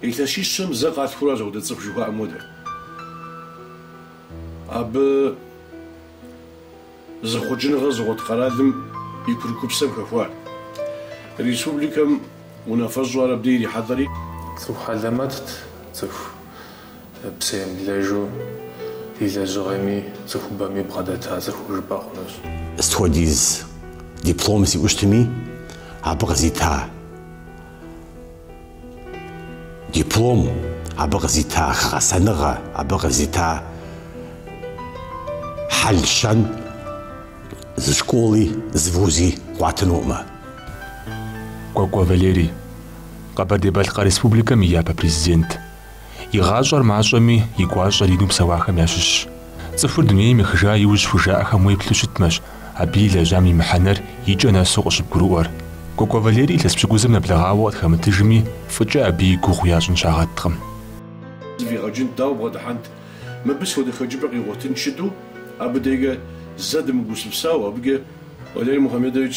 Илъэсищэм зэ къалъхуращ апхуэдэ цӏыху жыхуаӏэм хуэдэ. Абы зэхъуэкӏыныгъэ зыгъуэт къэралым и курыкупсэм хэхуар. Республикэм унафэщӏу ар абдей ирихьэлӏэри. Цӏыху хьэлэмэтт, цӏыху псэемыблэжу, и лэжьыгъэми цӏыхубэми бгъэдэта цӏыху жыпӏэ хъунущ. Сыт хуэдиз диплом сиӏэу щытми, абы къызита. Диплом, абы къызита гъэсэныгъэ, абы къызита хьэл-щэн зы школи, зы вузи къуатынукъымэ. Кӏуэкӏуэ Валерий, Къэбэрдей-Балъкъэр Республикэм и япэ Президент. И гъащӏэр мащӏэми, и гуащӏэр ину псэуахэм ящыщщ. Цӏыхур дунейм ехыжа иужь хужаӏэхэм уеплъу щытмэщ абы и лэжьам и мыхьэнэр икӏэ нэсу къыщыбгурыӏуэр. Кӏуэкӏуэ Валерий илъэс пщыкӏузым нэблэгъауэ къытхэмытыжми, фӏыкӏэ абы и гугъу ящӏын щагъэткъым. Зэфӏигъэкӏынт, дауэ бгъэдыхьэнт? Мыбы сыт хуэдэ хэкӏыпӏэ къигъуэтынт жытӏэу, абы дежкӏэ зэ дымыгупсысауэ, абыкӏэ Валерий Мухамедович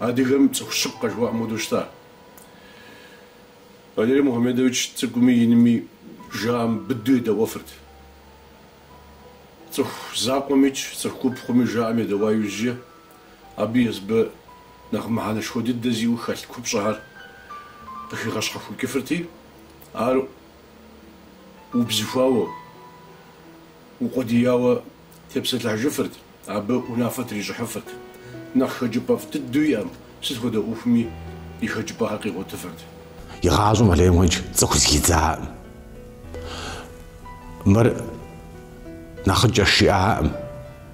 адыгэм цӏыху щыпкъэ жыхуаӏэм хуэдэу щыта. Валерий Мухьэмедович цӏыкӏуми инми жаӏэм быдэу едэӏуэфырт. Цӏыху закъуэмикӏ, цӏыху гуп хъуми жаӏэм едэӏуа иужькӏэ, абы езыбы нэхъ мыхьэнэшхуэ дыдэ зиӏэу хэлъ купщӏэхэр къыхигъэщхьэхукӏыфырти, ар убзыхуауэ, укъуэдияуэ тепсэлъыхьыжыфырт, абы унафэ трищӏыхьыфырт. Нэхъ хэкӏыпӏэфӏ дыдэу иӏэм, сыт хуэдэ ӏуэхуми и хэкӏыпӏэхэр къигъуэтыфырт. Игъащӏэм Валерий Мухьэмедович цӏыху зэхидзаӏым. Мыр нэхъыкӏэщ жиӏаӏым,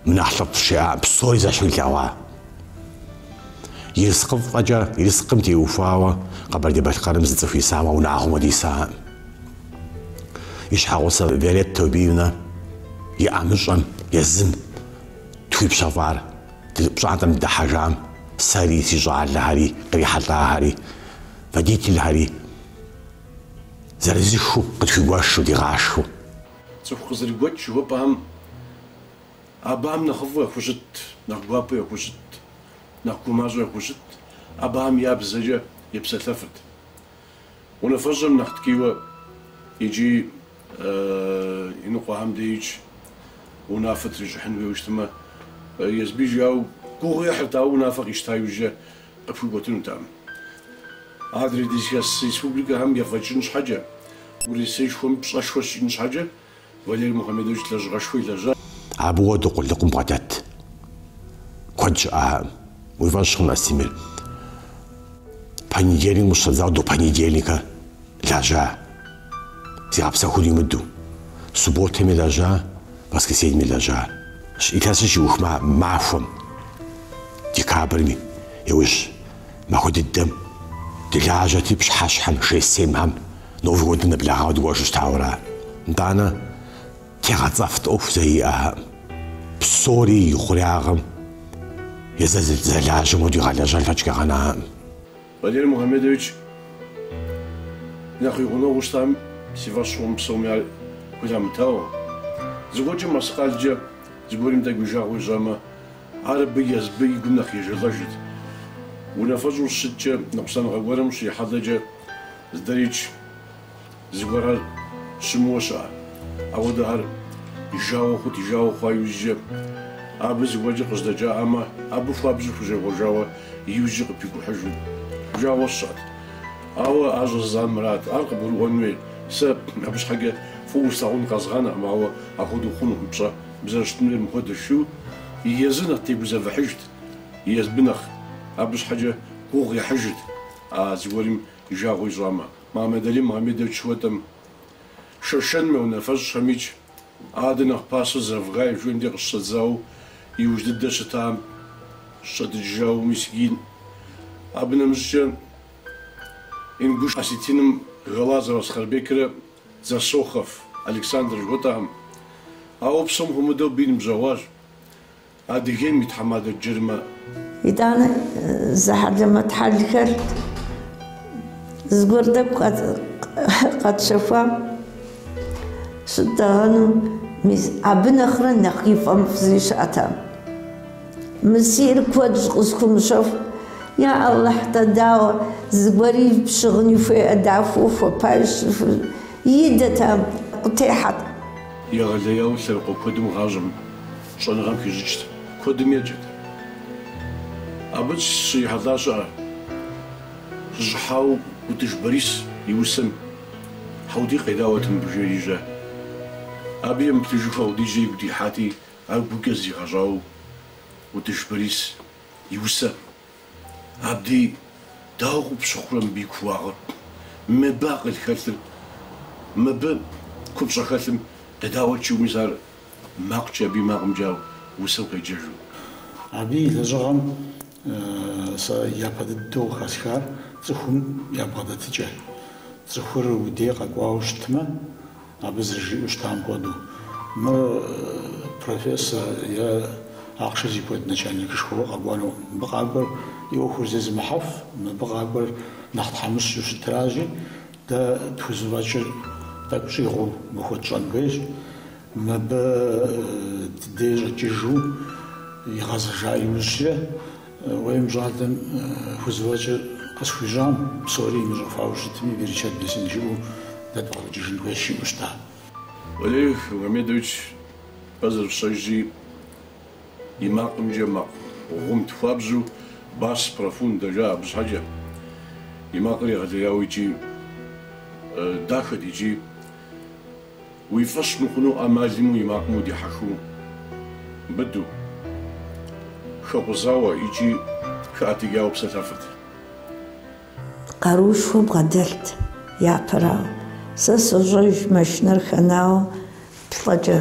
мыр нэхъ лӏыфӏщ жиӏаӏым, псори зэщхьу илъэгъуа. Ерыскъыфӏэкӏэ, ерыскъым теухуауэ Къэбэрдей-Балъкъэрым зы цӏыху исамэ, унагъуэм хуэдэ исаӏым. и щхьэгъусэ Виолетта Таубиевна и ӏэмыщӏэм, езым тхуипщэфӏар пщӏантӏэм дыдыхьэжам, сэри, си щӏалэхэри, кърихьэлӏахэри, водительхэри зырызыххэу къытхуигуэшу, дигъашхэу. Цӏыху къызэрыгуэкӏ жыхуэпӏэхэм абыхэм нэхъыфӏу яхущытт, нэхъ гуапэу яхущытт, нэхъ гумащӏэу яхущытт, абыхэм я бзэкӏэ епсэлъэфырт. Унафэщӏым нэхъ ткӏийуэ икӏи иныкъуэхэм деикӏ унафэ трищӏыхьын хуейуэ щытмэ, езыбы жиӏауэ гугъу ехьырт, ауэ унафэ къищта иужькӏэ къыпхуикӏуэтынутэкъым. Адрей дызыхэс республикэхэм ефӏэкӏын щхьэкӏэ, Урысейшхуэм пщӏэшхуэ щиӏэн щхьэкӏэ, Валерий Мухамедович лэжьыгъэшхуэ илэжьащ. Абы хуэдэу къулыкъум бгъэдэт куэд щыӏакъым. Уи фӏэщ хъун Астемыр. Понедельникым къыщыщӏэдзауэ до понедельника лэжьа. Зигъэпсэхур имыдэу. Субботэми лэжьа, воскресеньми лэжьа. Илъэсыр щиух махуэм, декабрми, иужь махуэ дыдэм, дылажьэрти пщыхьэщхьэм, шесть-семхэм, Новый годым нэблэгъауэ дыкӏуэжу щытауэра? Нтӏанэ, тегъэцӏэфт ӏуэху зэи иӏакъым. Псори и хъуреягъым езыр зэрылажьэм хуэдэу игъэлэжьэн лъэкӏ къигъэнакъым. Валерий Мухамедович, нэхъ и гъунэгъуу щытам си фӏэщ хъукъым псоми ар хуилъамытауэ. Зыгуэркӏэ мэскъалкӏэ зыгуэрым тӏэкӏу и жагъуэ ищӏамэ, ар абы езбы и гум нэхъ ежэлӏэжырт. Унафэщӏу щыткӏэ, ныкъусаныгъэ гуэрым щрихьэлӏэкӏэ, Здэридж зыгуэрхэр щымыуэ щыӏэ. Апхуэдэхэр и жагъуэ хъут, и жагъуэ хъуа иужькӏэ абы зыгуэркӏэ къыжьэдэкӏамэ, абы хуабжьу хущӏегъуэжауэ иужькӏэ къыпикӏухьыжу уи жагъуэ сщӏат. Ауэ ар щӏэзыдзар мырат. Ар къыбгурыӏуэн хуей. Сэ абы щхьэкӏэ фӏыуэ услъагъун къэзгъэнакъым, ауэ апхуэдэу хъунукъым, пщӏэ, узэрыщытынур мыпхуэдэущ жиӏэу. Езыр нэхъ тегузэвыхьыжт, езбы нэхъ. Абы щхьэкӏэ гугъу ехьыжырт. А зыгуэрым и жагъуэ ищӏамэ, Магомедали Магомедович жыхуэтӏэм, Шэшэным я унафэщӏхэм икӏ адэ нэхъ пасэу Завгаевым дей къыщыщӏэдзауэ иужь дыдэ щытам щӏэдыкӏыжауэ Мисгин, абы нэмыщӏкӏэ Ингуш Осетиным Галазов Ахсарбекрэ Дзасохов Александр жыхуэтӏэхэм. Ауэ псом хуэмыдэу абы и ныбжьэгъуащ. Адыгейм и тхьэмадэ Джарымэ. Итӏанэ зы хьэлэмэт хьэлхэр зыгуэр тӏэкӏу къэтщэхуам щыттӏэгъэну, мис абы нэхърэ нэхъ и фӏэмыфӏ зыри щыӏэтэкъым. Мы сиӏэр куэдщ, къысхуумыщэху, я Алыхь. Нтӏэ дауэ, зыгуэри пщыгъын хуейкъэ дахэу хуэпэж идэтэкъым, къытехьэт. Егъэлеяуэ лъэныкъуэ куэдым гъащӏэм Щӏэныгъэм хищӏыкӏт, куэдым еджэт. Абы сыщрихьэлӏащ сэ сыщӏыхьауэ Утыж Борис и усэм Хьэутий, къедаӏуэт мыбы жери жеӏэ. Абы емыплъыжу апхуэдизкӏэ игу дихьати, ар гукӏэ зригъэщӏауэ Утыж Борис и усэ Хьэутий, дауэ къыпщыхъурэ мыбы и кууагъыр? Мыбы акъыл хэлъыр, мыбы купщӏэ хэлъым едаӏуэт жиӏэу, мис ар макъкӏэ абы и макъымкӏэ ау усэу къеджэжу? Абы и лэжьыгъэм сэ япэ дыдэу хэсхар цӏыхум ябгъэдэтыкӏэ. Цӏыхур уи дей къэкӏуауэ щытмэ, Абы зэрыжиӏэу щытам хуэдэу, мы профессор е ахъшэ зи куэд начальникышхуэ къэкӏуэну. Мыбы къакӏуэр и ӏуэхур зезымыхьэф, мыбы къакӏуэр нэхъ тхьэмыщкӏэу щытыращи, дэ тхузэфӏэкӏыр тӏэкӏу щӏигъуу мыбы хуэтщӏэн хуейщ. Мыбы ди дей щӏэкӏыжу игъэзэжа иужькӏэ, Уей, мы щӏалэм хузэфӏэкӏыр къысхуищӏам, псори имыщӏэфауэ щытми, берычэт бесым жиӏэу дэ дбгъэдэкӏыжын хуейщ жиӏэу щыта. Валерий Мухамедович, фэ зэрыфщӏэжщи, и макъымкӏэ макъ гъумт хуабжьу, бас профундо жаӏэ абы щхьэкӏэ. И макъыр егъэлеяуэ икӏи дахэт икӏи. Уи фӏыщ мыхъуну ӏэмал имыӏэу и макъым удихьэхыу быду, хэкъузауэ икӏи хэӏэтыкӏауэ псэлъэфырт. Къарушхуэ бгъэдэлът. Япэрауэ, сэ сощӏэж, машинэр хэнауэ плӏэкӏэ.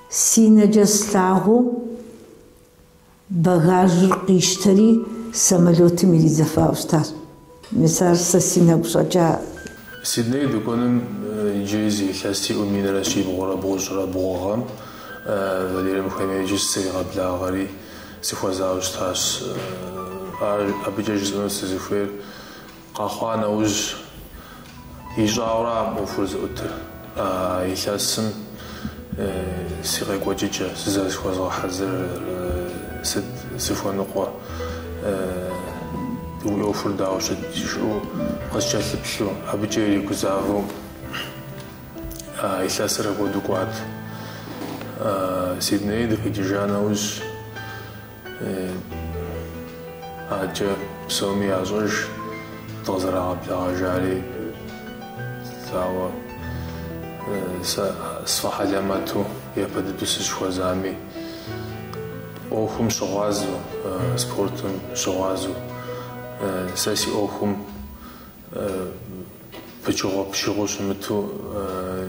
Си нэкӏэ слъагъуу, багажыр къищтэри, самолётым иридзэфауэ щытащ. Мис ар сэ си нэгу щӏэкӏа. Сидней дыкӏуэным иджыри зы илъэс сиӏэу минрэ щибгъурэ бгъущӏрэ бгъугъэм Валерий Мухамедович сыригъэблагъэри, сыхуэзауэ щытащ. Ар абыкӏэ жысӏэну сызыхуейр. Къэхъуа нэужь, ищӏауэракъым ӏуэхур зыӏутыр. А илъэсым си къекӏуэкӏыкӏэ, сызэрызыхуэзгъэхьэзырыр, сыт сыхуэныкъуэ? Уи ӏуэхур дауэ щыт? жиӏэу къыскӏэлъыплъу, абыкӏэ иригузавэу а илъэсыр апхуэдэу кӏуат. Сидней дыкъикӏыжа нэужь. Абыкӏэ псоми ящӏэж дыкъызэрагъэблэгъэжари, ауэ сэ сфӏэхьэлэмэту япэ дыдэу сыщыхуэзами, ӏуэхум щыгъуазэу, спортым щыгъуазэу сэ си ӏуэхум Пычыгъуэ-пычыгъуэу щымыту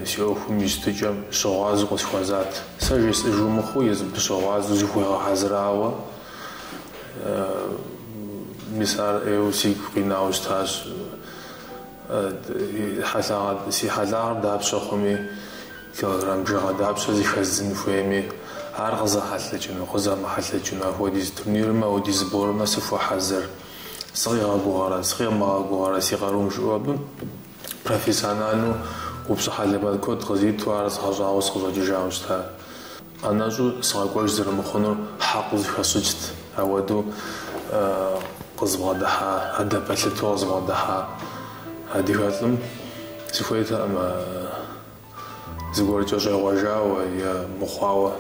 си ӏуэхум и щытыкӏэм щыгъуазэу къысхуэзат. Сэ жесӏыжу мыхъуу, езыр абы щыгъуазэу зыхуигъэхьэзырауэ, мис ар ӏейуэ сигу къинауэ щытащ. Хьэлъагъ, си хьэлъагъыр дапщэ хъуми, килограмм бжыгъэ дапщэ зыхэздзын хуейми, ар къызэхьэлъэкӏыну, къызэмыхьэлъэкӏыну, апхуэдиз турнирмэ, апхуэдиз сборымэ сыхуэхьэзыр. Сыкъигъэгугъэрэ, сыкъимыгъэгугъэрэ си къарум жиӏэу абы профессиональну упщӏэ хьэлэмэт куэд къызиту ар згъэщӏагъуэу сыкъыщӏэкӏыжауэ щыта. ӏэнэщӏу сыкъэкӏуэж зэрымыхъунур хьэкъыу зыхэсщӏыкӏт, ауэдэу къызбгъэдыхьа, адэ пэлъыту къызбгъэдыхьа адыгэлӏым сыхуейтэкъым. зыгуэркӏэ щӏегъуэжауэ е мыхъуауэ.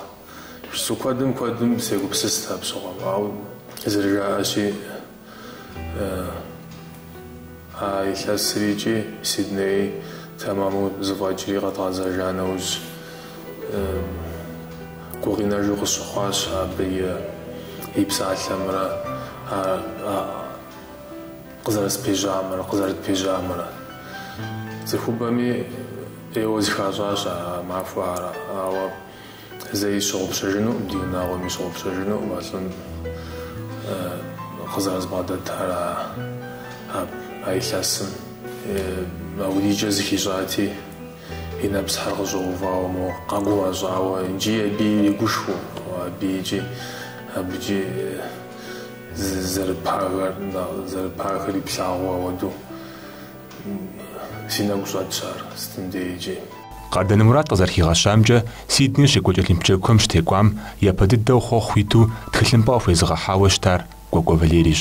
Пщы куэдым куэдым сегупсыст апщыгъуэм, ауэ зэрыжаӏэщи, а илъэсри икӏи Сидней тэмэму зыфӏэкӏри къэдгъэзэжа нэужь, гукъинэжу къысщыхъуащ абы и псалъэмрэ а Къызэрыспежьамрэ къызэрытпежьамрэ цӏыхубэми ӏейуэ зыхащӏащ а махуэхэр, ауэ зэи сщыгъупщэжынукъым, ди унагъуэми щыгъупщэжынукъым а лӏым къызэрызбгъэдэтар а илъэсым. Апхуэдизкӏэ зыхищӏати, и нэпсхьэр къыщӏэувауэ моуэ, къэгумэщӏауэ икӏи абы иригушхуэу, абы икӏи абыкӏи. Зэрыпагэр иплъагъуу апхуэдэу си нэгу щӏэтщ ар сытым деи икӏи. Къардэн Мурат къызэрыхигъэщамкӏэ, Сидней щекӏуэкӏ Олимп Джэгухэм щытекӏуам япэ дыдэу хъуэхъу иту тхылъымпӏэ къыхуезыгъэхьауэ щытар Кӏуэкӏуэ Валерийщ.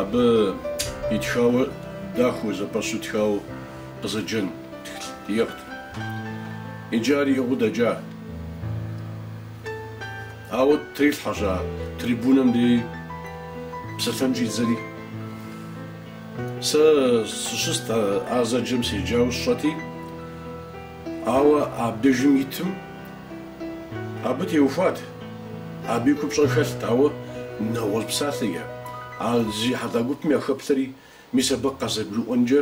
Абы итхауэ дахэу зэпэщу тхауэ къызэджэн иӏыгът. Икӏи ар иӏыгъыу дэкӏа. Ауэ трилъхьэщ а трибунэм дей псэлъэн щӏидзэри. Сэ сыщыст а зэджэм седжауэ сщӏэти, ауэ абдежым итым, Абы теухуат. Абы и купщӏэр хэлът, ауэ нэгъуэщӏ псалъэкӏэ, а зрихьэлӏа гупым яхэплъэри, мис абы къазэрыгурыӏуэнкӏэ,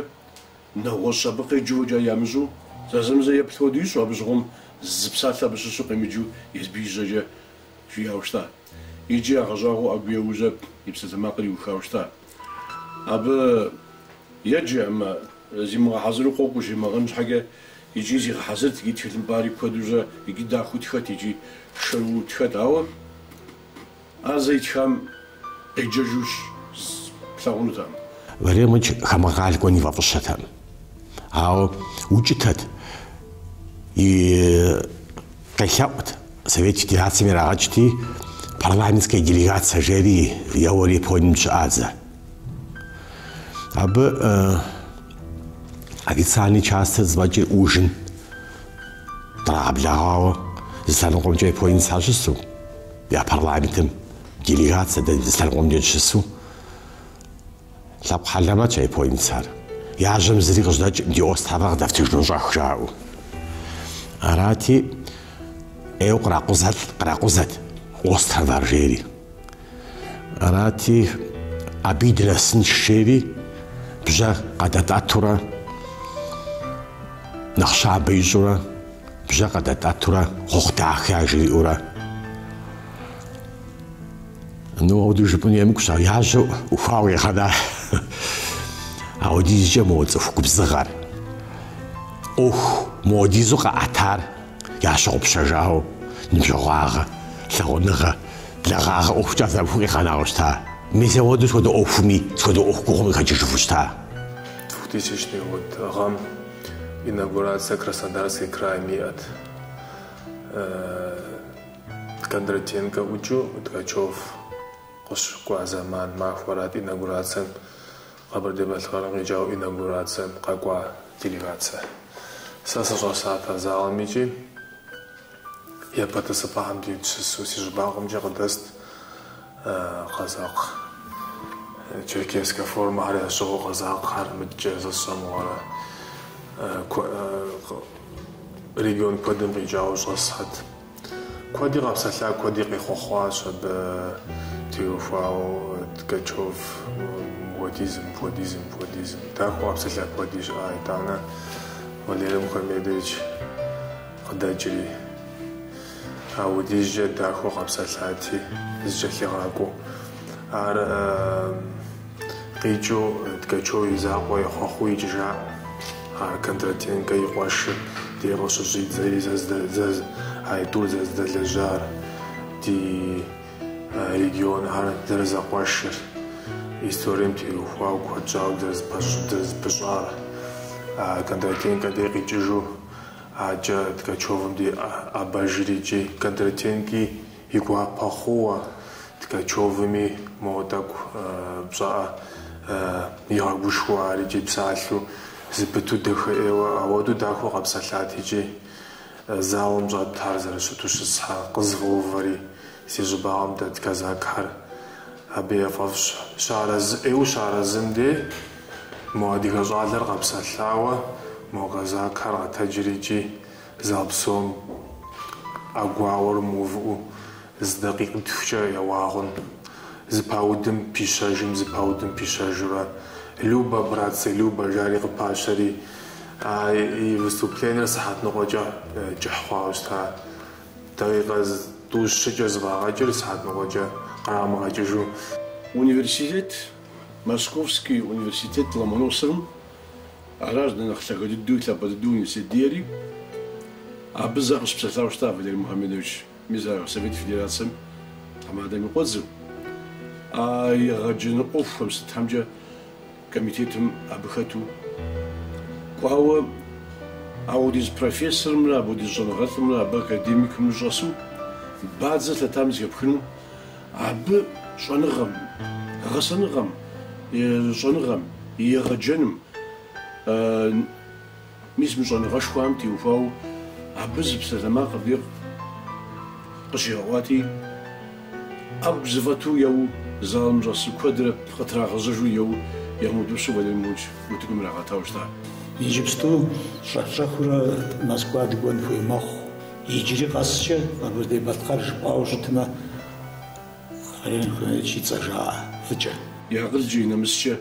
нэгъуэщӏ абы къеджэу фӏэкӏа ямыщӏэу, зэзэмызэ еплъ хуэдэу ищӏу, абы щыгъуэм зы псалъэ абы щыщу къемыджэу езым и жьэкӏэ жиӏауэ щыта. Икӏи ягъэщӏагъуэу ӏэгу еуэжхэу и псалъэмакъыр иухауэ щыта. Абы еджэкъым, зимыгъэхьэзыру къокӏуэ жумыӏэн щхьэкӏэ, икӏи зигъэхьэзырт, икӏи тхылъымпӏэри куэду, икӏи дахэу тхэт, икӏи шэрыуэу тхэт, ауэ ар зэ итхам къеджэжу плъагъунутэкъым. Валерий Мухамедович хамэ къэрал кӏуэн ифӏэфӏыщэтэкъым, ауэ укӏытэт, и Къелъэӏут, Совет Федерацэм ирагъэкӏти, парламентская делегация жери еуэри Японием дыщыӏащ зэ. Абы официальный частыр зэфӏэкӏри ужин драгъэблэгъауэ, зы лъэныкъуэмкӏэ Японием щыщхэр щысу, я парламентым делегация дэ зы лъэныкъуэмкӏэ дыщысу, Лъэпкъ хьэлэмэтщ а японецар. Я жьэм зыри къыжьэдэкӏым ди островар къыдэфтыжыну щӏэх жаӏэу. Арати, ӏейуэ къракъузэ, къракъузэт островар жери. Арати, абыи дынэсынщ жери бжьэ къадэтӏэтурэ, нэхъ щабэ ищӏурэ, бжьэ къадэтӏэтурэ, хъуэхъу дахэ яжриӏэурэ. Ну ауду жыпӏэну емыкӏущ, ауэ я жьэ ӏухуауэ къигъэна. Аудизкӏэ мо цӏыху губзыгъэр, ӏуэху моадизу къэӏэтар ящыгъупщэжауэ ныбжьэгъуагъэ, лъагъуныгъэ, благъагъэ ӏуэхукӏэ зэрыху къигъэнауэ щыта. Мис ауэду схуэдэ ӏуэхуми, схуэдэ ӏуэху гугъуми къыхэкӏыжыфу щыта. Двухтысячный год гъэм инаугурация Краснодарский краем иӏэт. Кондратенкэ ӏукӏыу Ткачев къыщыкӏуа зэман махуэрат инаугурацием Къэбэрдей-Балъкъэрым къикӏауэ инаугурацием къэкӏуа делегация. Сэ сыщӏэсат а залым икӏи япэ тӏысыпӏэхэм дит щысу си щӏыбагъымкӏэ къыдэст къэзакъ, черкесскэ формэхэр ящыгъыу къэзакъхэр мыдкӏэ зэщӏэмыгъуэрэ регион куэдым къикӏауэ щӏэсхьэт. Куэди къэпсэлъа, куэди къехъуэхъуащ абы теухуауэ Ткачев. Мыпхуэдизым, мыпхуэдизым, мыпхуэдизым. Дахэу къэпсэлъа куэди щыӏа. Итӏанэ Валерий Мухамедович къыдэкӏри, аудизкӏэ дахэу къэпсэлъати, зыкӏэлъигъакӏуэу. Ар Къикӏыу Ткачев и закъуэ ехъуэхъуу икӏыжа Кондратенкэ и къуэшыр де къыщыщӏидзэри айтӏур зэрызэдэлэжьар, ди регионхэр зэрызэкъуэшыр, историем теухуауэ куэд щӏауэ дызэрызпыщӏар. Кондратенкэ дей къикӏыжу, акӏэ Ткачевым дей ӏэбэжри икӏи Кондратенки И гуапэ хъууэ Ткачевыми моуэ тӏэкӏу пщӏэӏэ игъэгушхуэу ар икӏи псалъэу, зыпыту дэхэӏейуэ ауэдэу дахэу къэпсэлъат икӏи. Залым щӏэтар зэрыщыту щысхьэ къызгъэувэри, си щӏыбагъым дэт казакар абы яфӏэфӏщ. Щыарэзыӏейуэ щыарэзым де мо адыгэ щӏалэр къэпсэлъауэ мо казакар къэтэджри икӏи. Зал псом ӏэгуауэр мыувыӏэу зы дакъикъитхукӏэ еуагъэн. Зэпаудым пищэжым, зэпаудым пищэжурэ, Любо, братцы, любо, жари къыпащэри, а и выступленэр сыхьэт ныкъуэкӏэ кӏыхь хъуауэ щыта. Дакъикъэ тӏу-щыкӏэ зэфӏагъэкӏыр сыхьэт ныкъуэкӏэ кърамыгъэкӏыжу. Университет, Московский университет Ломоносовым Аращ дэ нэхъ лъагэ дыдэуи лъапӏэ дыдэу университет диӏэри. Абы зэ къыщыпсэлъауэ щыта Валерий Мухамедович, мис ар Совет Федерацэм тхьэмадэм и къуэдзэу. А егъэджэну ӏуэхухэм сытхьэмкӏэ комитетым абы хэту кӏуауэ, апхуэдиз профессорымрэ апхуэдиз щӏэныгъэлӏымрэ абы академикымрэ щӏэсу бадзэ лъэтам зэхэпхыну, Абы щӏэныгъэм, гъэсэныгъэм, щӏэныгъэм, егъэджэным, мис мы щӏэныгъэшхуэм теухуауэ абы зы псалъэмакъ абы къыщигъэӏуати, ӏэгу зэфӏэту еуэу, залым щӏэсу куэдрэ къытрагъэзэжу еуэу, ямыутӏыпщу Валерий Мухамедович утыкум ирагъэтауэ щыта. Иджыпсту щӏэх-щӏэхыурэ Москва дыкӏуэн хуей мэхъу. Иджыри къэскӏэ Къэбэрдей-Балъкъэр жыпӏауэ щытмэ, Валерий Мухьэмедович и цӏэ жаӏэ фӏыкӏэ. И акъылкӏэ, и нэмыскӏэ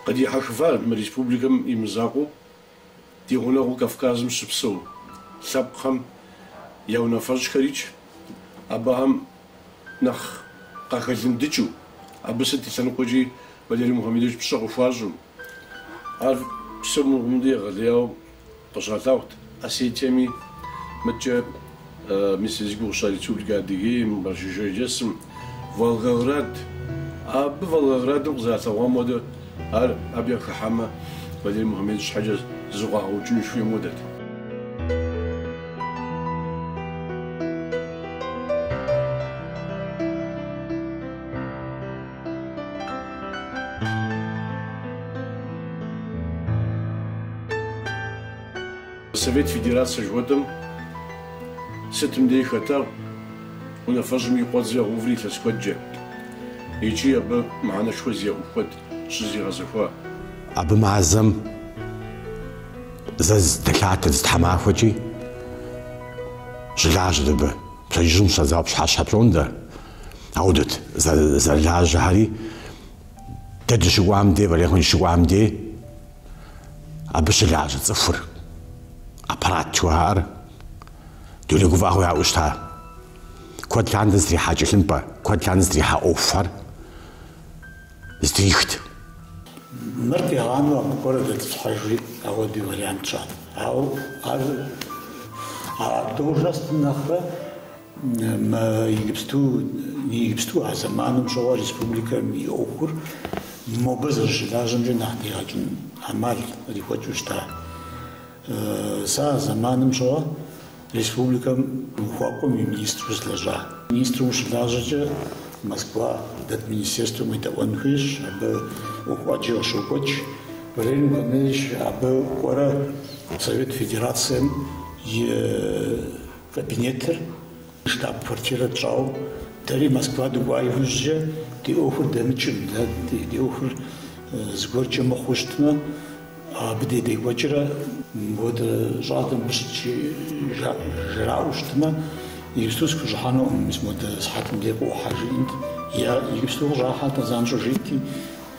къыдихьэхыфар мы республикэм и мызакъуэу, ди гъунэгъуу Кавказым щыпсэу лъэпкъхэм я унафэщӏхэрикӏ, абыхэм нэхъ къахэлыдыкӏыу, абы сыт и лъэныкъуэкӏи Валерий Мухьэмедович пщӏэ къыхуащӏым, Ар псом хуэмыдэу егъэлеяуэ къыщалъагъут Осетиеми, мыткӏэ мис зи гугъу сщӏа Республикэ Адыгейм, Къэрэшей-Шэрджэсым, Волгоград. Абы Волгоградым къызэралъэгъуам хуэдэу, ар абы яхыхьэмэ, Валерий Мухьэмедович щхьэкӏэ зрагъэукӏыну жыхуиӏэм хуэдэт. Совет Федерацэ жыхуэтӏэм сытым деи хэтагъ унафэщӏым и къуэдзэу уври илъэс куэдкӏэ икӏи абы мыхьэнэшхуэ зиӏэ ӏуэху куэд щызэригъэзэхуа. Абы мазэм зэ здэлъатэ зы тхьэмахуэкӏи щылажьэт абы. Пщэдджыжьым щӏэдзауэ пщхьэщхьэ пщӏондэ. Аудэт зэрылажьэхэри дэ дыщыкӏуам дей, Валерхъым дыщыкӏуам дей абы щылажьэ цӏыхур аппарат жыхуаӏэр дуней гуфӏэгъуэ яӏэу щыта. Куэд лъандэ зэтрихьа тхылъымпӏэ, куэд лъандэ зэтрихьа ӏуэхухэр зэтрихт. Мыр къигъанэу абы кӏуэрэ дэтӏысхьэжри ауэдэу вариант щыӏат. Ауэ ар должностым нэхърэ Мы иджыпсту, ны иджыпсту а зэманым щыгъуэ республикэм и ӏуэхур мобы зэрыщылажьэмкӏэ нэхъ дигъэкӏын ӏэмал кърихуэкӏыу щыта. Сэ а зэманым щыгъуэ республикэм ухуакӏуэм и министру сылэжьа. Министру ущылажьэкӏэ Москва дэт министерствэм уедэӏуэн хуейщ, абы ӏуэху ӏэджи къыщокӏуэкӏ. Валерий Мухамедович абы кӏуэрэ Совет Федерацэм и Кабинетыр, штаб-квартирэ тщӏауэ, дэри Москва дыкӏуа иужькӏэ ди ӏуэхур дэмыкӏым, дэ ди ӏуэхур зыгуэркӏэ мыхъуу щытмэ, абы дей декӏуэкӏрэ мыпхуэдэ щӏалэм къыщыджыжаӏэу щытмэ, иджыпсту сыхущӏыхьэнукъым, мис модэ сыхьэтым дей къыӏухьэ жиӏэнт. Иджыпсту къыщӏыхьэт, а занщӏэу жиӏэнти.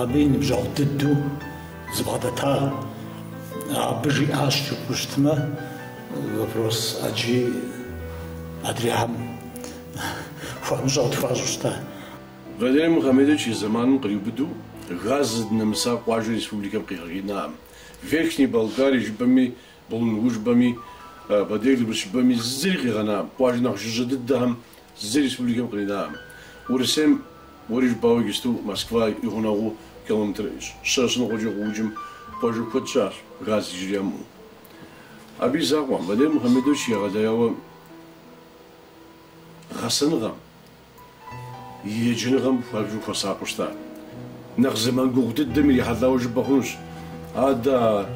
Абы и ныбжьэгъу дыдэу зыбгъэдэтар абы жиӏащ жыпӏэу щытмэ, вопрос ӏэджи адрейхэм хуэмыщӏэу тхуащӏу щыта. Валерий Мухамедович и зэманым къриубыдэу газ зыдынэмыса къуажэ республикэм къигъэкӏинаӏым. Верхней Балкарие жыпӏэми Булунгу жыпӏэми, Бедык жыпӏэми зыри къигъэнакъым, къуажэ нэхъ жыжьэ дыдэхэм зыри республикэм къринакъым. Урысейм уэри жыпӏауэ иджысту Москва и гъунэгъуу километр щэ, щэ ныкъуэкӏэ къыӏукӏым къуажэ куэд щыӏэщ, газ иджыри ямыӏэу. Абы и закъуэм, Валерий Мухьэмедович егъэлеяуэ гъэсэныгъэм, Еджэныгъэм хуабжьу хуэсакъыу щыта. Нэхъ зэман гугъу дыдэм ирихьэлӏауэ жыпӏэ хъунущ. Адэ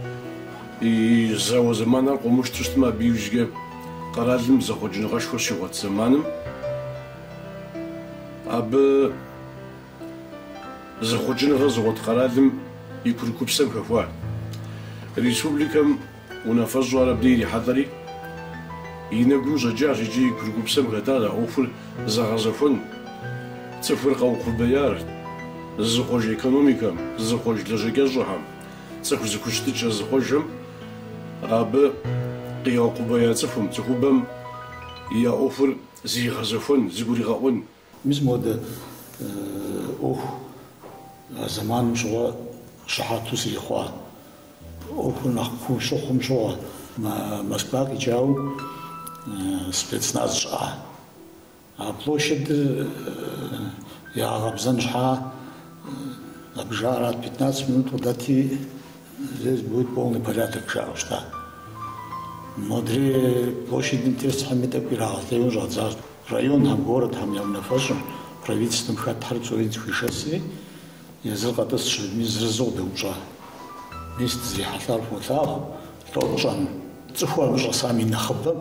и зауэ зэманхэр къыумыщтэу щытмэ, абы иужькӏэ къэралым зэхъуэкӏыныгъэшхуэ щигъуэт зэманым абы зэхъуэкӏыныгъэ зыгъуэт къэралым и курыкупсэм хэхуа республикэм Унафэщӏу ар абдей ирихьэлӏэри, и нэгу щӏэкӏащ икӏи и курыкупсэм хэтащ а ӏуэхур зэгъэзэхуэну, цӏыхур къэукъубеяр, зызыхъуэж экономикэм, зызыхъуэж лэжьакӏэщӏэхэм, цӏыху зэхущытыкӏэ зыхъуэжхэм, абы къигъэукъубея цӏыхум, цӏыхубэм я ӏуэхур зригъэзэхуэн, зэгуригъэӏуэн. Мис модэ ӏуэху а зэманым щыгъуэ щыхьэту сыхъуа ӏуэхур нэхъ куу щыхъум щыгъуэ. Москва къикӏауэ спецназ щыӏа? А площадыр ягъэкъэбзэн щхьа абы жаӏэрат, пятнадцать минут къыдэти здесь будет полный порядок жаӏэу щыта. Модрей площадым тесхэми тӏэкӏу ирагъэлейуэ щӏадзащ. Районхэм, городхэм я унафэщӏым, правительствэм хэтхэр псори зыхуишэсри, езыр къэтӏысщ аби зырызу къыдэупщӏа. Мис дызрихьэлӏар фолъагъу, лӏо тщӏэну. Цӏыхур абы щӏэсам и нэхъыбэм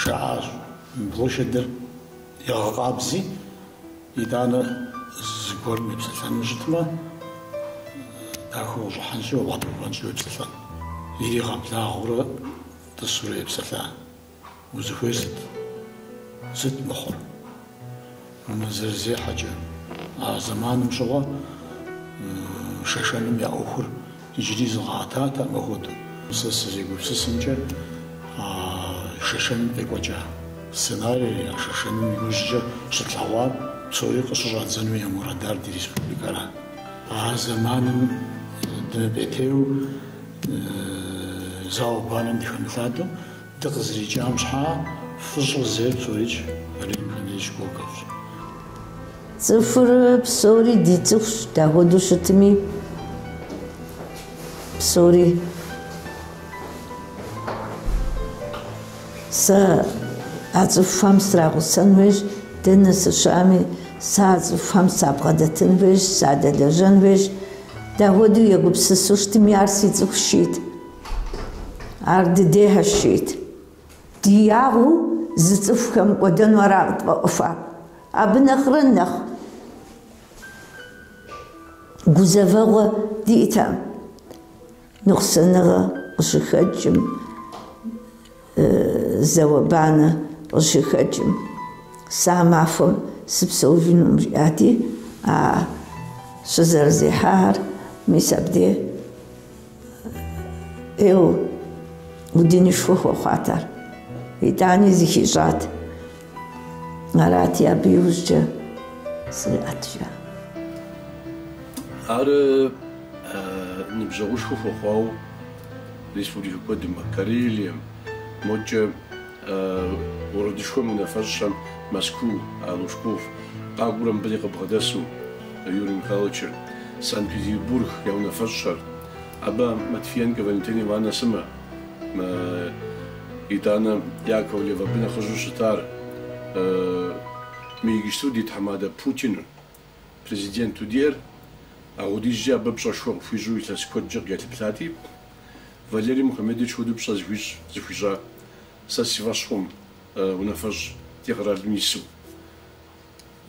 жаӏащ, мы площадыр егъэкъабзи, итӏанэ зыгуэрым епсэлъэну щытмэ, дахэу къыщӏыхьэнщи, уабгъэдэтӏысхьэнщи уепсэлъэн. Иригъэблагъэурэ тӏысурэ епсэлъа. Узыхуей сыт? Сыт мыхъур? Мы зэрызехьэкӏэ, а зэманым щыгъуэ Шэшэным я ӏуэхур иджыри зыкъиӏэтатэкъым апхуэдэу. Сэ сызегупсысымкӏэ, а Шэшэным къекӏуэкӏа сценарийр, а Шэшэным иужькӏэ щытлъэгъуар псори къыщыщӏадзэну я мурадар ди республикэра? А зэманым дымыпӏейтейуэ зауэ-банэм дыхэмылъадэу Дыкъызэрикӏам щхьа фӏыщӏэ зейр псорикӏ Валерий Мухамедович Коковщ. Цӏыхур псори ди цӏыхущ, дапхуэдэу щытми псори. Сэ а цӏыхухэм срагъусэн хуейщ, дэнэ сыщыӏэми, сэ а цӏыхухэм сабгъэдэтын хуейщ, садэлэжьэн хуейщ. Дапхуэдэу егупсысу щытми, ар си цӏыхущ, жиӏэт. Ар дыдейхэщ, жиӏэт. Ди ягъэу зы цӏыху хэмыкӏуэдэну ара къытфӏэӏуэхуар? Абы нэхърэ нэхъ гузэвэгъуэ диӏэтэкъым, ныкъусаныгъэ къыщыхэкӏым. Зауэ-банэ къыщыхэкӏым, сэ а махуэм сыпсэужынукъым, жиӏати, а щызэрызехьахэр мис абдей ӏейуэ удынышхуэ хуэхъуат ар. Итӏани зыхищӏат. Арати, абы иужькӏэ сриӏэт, жаӏэ. Ар ныбжьэгъушхуэ хуэхъуауэ. Республикэ куэдым, Карелием, мокӏэ городышхуэм унафэщӏхэм Мэзкуу, Лужков, къакӏуэрэ мыбы дей къыбгъэдэсу Юрий Михайловичыр, Санкт-Петербург я унафэщӏхэр, абы Матвиенкэ Валентинэ Ивановнэ сымэ, итӏанэ Яковлев абы нэхъыжьу щытар, мы иджыпсту ди тхьэмадэ Путиныр. Президенту диӏэр апхуэдизкӏэ абы пщӏэшхуэ къыхуищӏу илъэс куэдкӏэ къыкӏэлъыплъати, Валерий Мухамедович хуэдэу пщӏэ зыхуищӏ зыхуищӏа сэ си фӏэщ хъуӏым, унафэщӏ ди къэралым ису,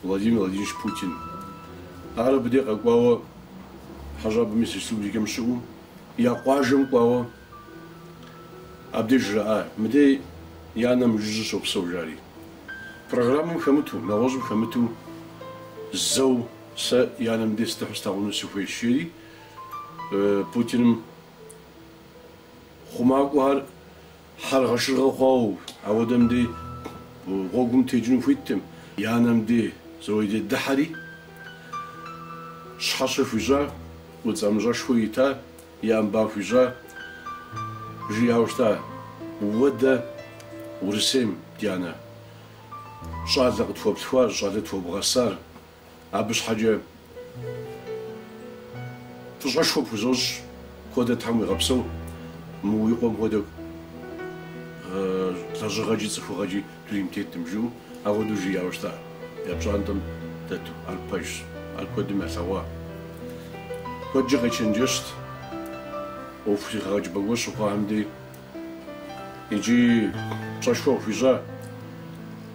Владимир Владимирович Путин. Ар абы дей къэкӏуауэ хьэщӏапӏэ мис республикэм щыӏэу, я къуажэм кӏуауэ Абдеж жраӏа, мыдей и анэ мыжыжьэу щопсэу, жари. Программэм хэмыту, нэгъуэщӏым хэмыту зэу сэ и анэм дей сыдыхьэу слъагъуну сыхуейщ, жери Путиным хъумакӏуэхэр хьэргъэшыргъэ хъуауэ, ауэдэ мыдей гъуэгум текӏыну хуиттэӏым, и анэм дей зэуэ дыдыхьэри, щхьэщэ хуищӏа, удз ӏэмыщӏэшхуэ ирита И ӏэм ба хуищӏа, жиӏауэ щыта: Уэ дэ Урысейм, ди анэ, щӏалэ къытхуэплъхуар, щӏалэ тхуэбгъэсар, абы щхьэкӏэ фӏыщӏэшхуэ пхузощӏ, куэдрэ Тхьэм уигъэпсэу, мы уи къуэм хуэдэ лэжьыгъэкӏи цӏыхугъэкӏи Дунейм тетӏым жиӏэу апхуэдэу жиӏауэ щыта, я пщӏантӏэм дэту, ар пэжщ, ар куэдым ялъэгъуа. Куэдкӏэ къечэнджэщт, ӏуэху зэхэгъэкӏыпӏэ гуэр щыхъуахэм дей. Икӏи пщӏэшхуэ къыхуищӏа,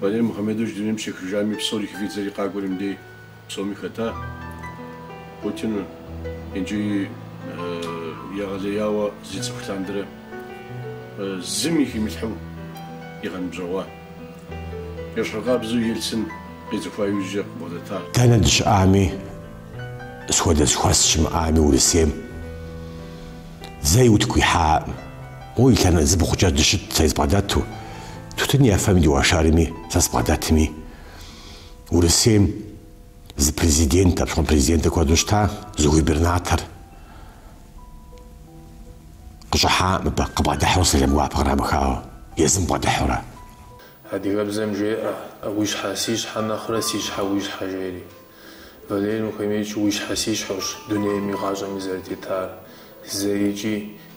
Валерий Мухьэмедович дунейм щехыжами, псори хыфӏидзэри къакӏуэри мыдей. Псоми хэта Путин икӏи егъэлеяуэ зэрицӏыху лъандэрэ зыми химылъхьэу игъэныбжьэгъуа ещхьыркъабзэу Ельцин къицӏыхуа иужькӏэ къыбгъэдэта. Дэнэ дыщыӏами, сыт хуэдэ зэхуэс щымыӏами Урысейм зэи утыку ихьаӏым. Моуэ и лъэнэ зы бгъукӏэ дыщытт сэри сыбгъэдэту, тутын ефэми дыуэршэрми сэ сыбгъэдэтми. Урысейм зы президент, апщыгъуэм президентыр куэду щыта, зы губернатор къыщӏыхьаӏым абы, къыбгъэдыхьэу сэлам гуапэ кърамыхауэ, езым бгъэдыхьэурэ. Адыгэбзэм жеӏэ, Уи щхьэ си щхьэ нэхърэ си щхьэ уи щхьэ жери. Валерий Мухамедович уи щхьэ си щхьэущ дунейми гъащӏэми зэрытетар, зэикӏи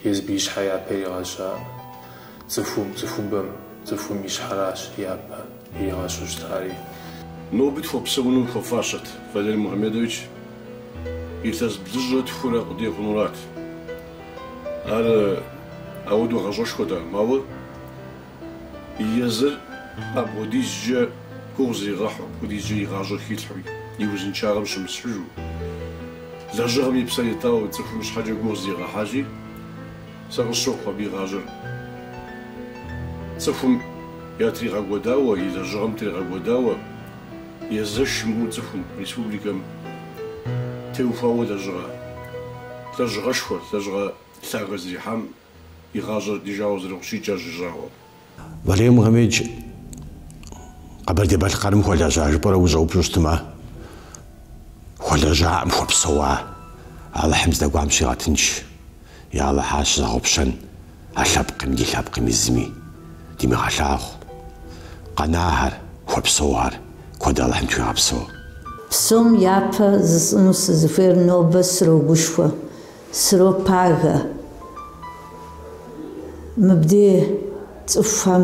Езым и щхьэ япэ иригъэщар цӏыхум, цӏыхубэм, цӏыхум и щхьэращ япэ иригъэщу щытари. Нобэ тхуэпсэуну хуэфащэт Валерий Мухамедович, илъэс блыщӏрэ тхурэ къудей хъунурат. Ар ауэдэу гъащӏэшхуэтэкъым, ауэ Езыр апхуэдизкӏэ гугъу зригъэхьу, апхуэдизкӏэ и гъащӏэр хилъхьу, и узыншагъэм щымысхьыжу. Лэжьыгъэм и псэр итауэ цӏыхум щхьэкӏэ гугъу зригъэхьащи, сэ къысщохъу абы и гъащӏэр цӏыхум ятригъэкӏуэдауэ, и лэжьыгъэм тригъэкӏуэдауэ, езэш имыӏэу цӏыхум, республикэм теухуауэ лэжьыгъэ, лэжьыгъэшхуэ, лэжьыгъэ лъагэ зэрихьам и гъащӏэр, ди жагъуэ зэрыхъущи, кӏэщӏ ищӏауэ. Валерий Мухамедович Къэбэрдей-Балъкъэрым хуэлэжьа жыпӏэрэ ущӏэупщӏэу щытмэ, хуэлэжьакъым, хуэпсэуа. Алыхьым здэкӏуам щигъэтынш. Я Алыхь, ар щызэгъупщэн а лъэпкъми ди лъэпкъми зыми димыгъэлъагъу. Къэнахэр, хуэпсэухэр куэд Алыхьым тхуигъэпсэу. Псом япэ жысӏыну сызыхуейр нобэ срогушхуэ. Сыропагэ мыбдей цӏыхухэм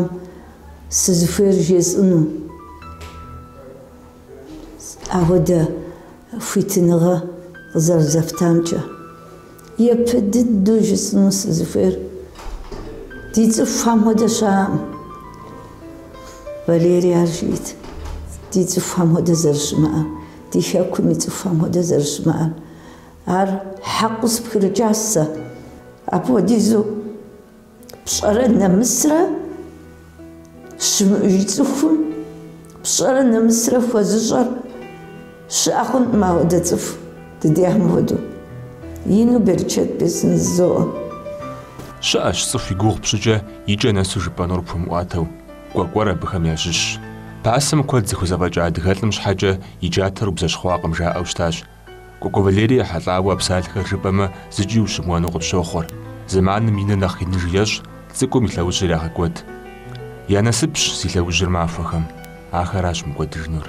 сызыхуейр жесӏыну, ауэдэ хуитыныгъэ къызэрызэфтамкӏэ. Япэ дыдэу жысӏыну сызыхуейр ди цӏыхухэм хуэдэ щыӏэкъым. Валерий ар жиӏэт, ди цӏыхухэм хуэдэ зэрыщымыӏэм, ди хэкум и цӏыхухэм хуэдэ зэрыщымыӏэм. Ар хьэкъыу сыпхырыкӏащ сэ. Апхуэдизу пщӏэрэ нэмысрэ щымыӏэу, и цӏыхум пщӏэрэ нэмысрэ хуэзыщӏэр щыӏэ хъункъым ауэдэ цӏыху дыдехьым хуэдэу. Ину берычэт бесын жызоӏэ. Щыӏэщ цӏыху и гугъу пщӏыкӏэ и кӏэ нэсу жыпӏэнур пхуэмыӏуатэу. Кӏуэкӏуэр абыхэм ящыщщ. Пасэм куэд зыхузэфӏэкӏа адыгэлӏым щхьэкӏэ и джатэр убзэщхъуакъым жаӏэу щытащ. Кӏуэкӏуэ Валерий ехьэлӏауэ а псалъэхэр жыпӏэмэ зыкӏи ущымыуэну къыпщохъур. Зэманым иныр нэхъ иныжу ещӏ, цӏыкӏум и лъэужьыр егъэкӏуэд. Я насыпщ зи лъэужьыр махуэхэм, ахэращ мыкӏуэдыжынур.